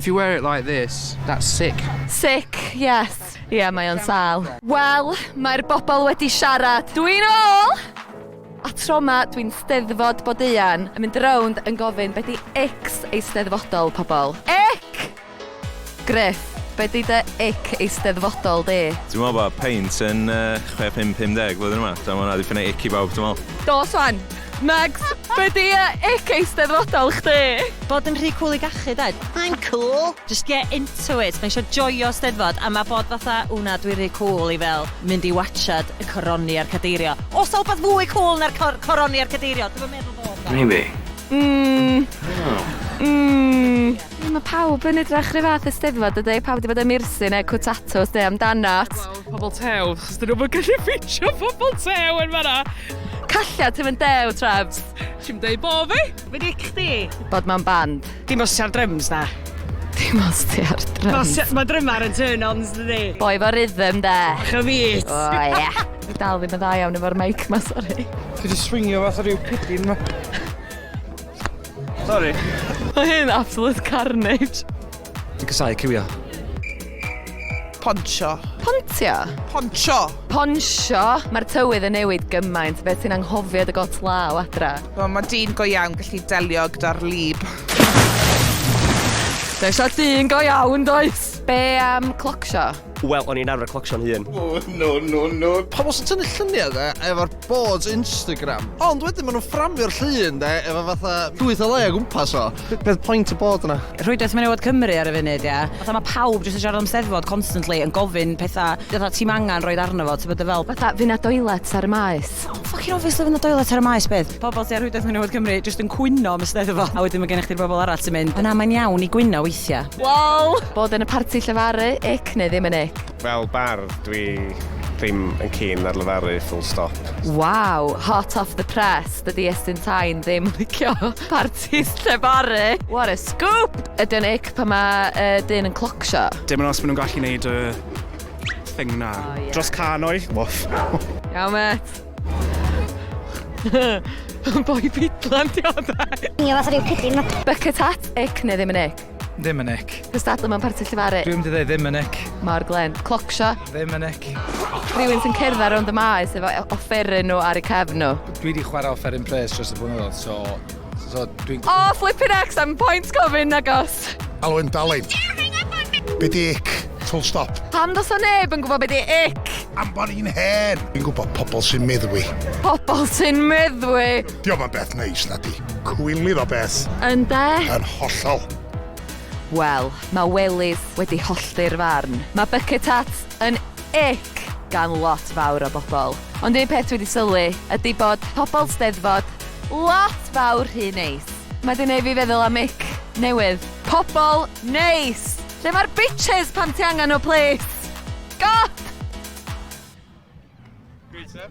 If you wear it like this, that's sick. Sick, yes. Ie, mae o'n sâl. Wel, mae'r bobl wedi siarad. Dw i'n ôl! A tro ma, dwi'n Steddfod Bodeuan yn mynd rownd yn gofyn be di ic Eisteddfodol, pobl. Ic! Gruff, be di dy ic Eisteddfodol di? Dwi'n meddwl bod peint yn yy chwe pump pumdeg flwyddyn yma. Dwi'n meddwl ma' hwnna 'di prynu ic i bawb dwi'n meddwl. Dos wan! Megs, be di e ic eisteddfodol chdi? Bod yn rhy cwl i gachu de. I'm cool! Just get into it, mae isio joio steddfod a mae bod fatha ww na dwi rhy cwl i fel mynd i watsiad y coroni a'r cadeirio. Oes na wbath fwy cwl na'r cor- coroni a'r cadeirio? Dwi'm yn meddwl bod na. Maybe. Mmm mmm. Mae pawb yn edrach 'run fath ar steddfod dydi? Pawb 'di bod yn Myrsin neu Cwt Tatws neu amdanat. Pobl tew, chos dyn nhw'm yn gallu ffitio pobl tew yn fanna. Calliad ti fynd dew, Trebs? Ti'n dweud bo fi? Fe gic chdi? Bod mewn band. Dim os ti ar dryms, na. Dim os ti ar dryms. Mae drymar yn turn-ons, dydi? Boi fo rhythm, de. Bach o fys. O, ie. Dwi dal ddim yn dda iawn efo'r mic ma, sori. Dwi wedi swingio fath o ryw pidyn ma. Sori. Mae hyn absolute carnage. Dwi'n casau cywio. Poncho. Pontio. Poncho. Poncho. Mae'r tywydd yn newid gymaint. Beth sy'n anghofio dy got law adra? Wel, mae dyn go iawn gallu delio gyda'r lib. Does o dyn go iawn, does? Be am clocsio? Wel, o'n i'n arfer clocsio'n hun. Oh, no, no, no. Pobl sy'n tynnu lluniau de, efo'r boards Instagram. Ond wedyn maen nhw'n fframio'r llun de, efo fatha llwyth o le o gwmpas o. Beth pwynt y bod yna? Rhwydwaith menywod Cymru ar y funud, ia. Fatha mae pawb jyst yn siarad am steddfod constantly, yn gofyn pethau, fatha ti'n angen roed arno fo, ti'n bod y fel. Fatha, fy na doilets ar y maes. Ffocin obviously fy na doilets ar y maes, beth? Pobl sy'n ar Rhwydwaith Menywod Cymru jyst yn cwyno am y steddfod, a wedyn mae gennych chi'r bobl arall sy'n mynd, na, mae'n iawn i gwyno weithiau. Wel! Bod yn y parti llefaru, ic neu ddim yn ic? Fel bardd, dwi ddim yn keen ar lefaru, full stop. Waw, hot off the press, dydi Estyn Tain ddim yn licio partis llefaru! What a scoop! Ydy o'n ic pan mae uh, dyn yn clocsio? Dim ond os maen nhw'n gallu gwneud y thing na. Oh, yeah. Dros canoedd? Woof. Iawn, met. Boi pidlan di o da. Ni o fath rhyw pidlin. Bucket hat, ic neu ddim yn ic? Ddim yn ic. Cystadlu mewn parti llifaru? Dwi'n mynd i ddim yn ic. Mor glen. Clocsio? Ddim yn ic. Rhywun sy'n cerdd ar rownd y maes efo offeryn nhw ar y cefn nhw? Dwi wedi chwarae offeryn pres dros y blynyddoedd, so So, dwi'n... O, oh, flippin' ex, I'm point gofyn na gos. Alo, yn daled. Be di ic? Full stop. Pam dos o neb yn gwybod be di ic? Am bod i'n hen. Dwi'n gwybod pobl sy'n meddwi. Pobl sy'n meddwi? Diolch yn beth neis na di. Cwylydd o beth. Yn de? Yn hollol. Wel, mae Welydd wedi hollti'r farn. Mae Bucket Hat Yn ick gan lot fawr o bobl. Ond un peth dwi 'di sylwi ydi bod pobl 'Steddfod lot fawr rhy neis. Mae 'di neud fi feddwl am ick newydd. Pobl neis! Lle mae'r bitches pan ti angen nhw plis? God! Great stuff.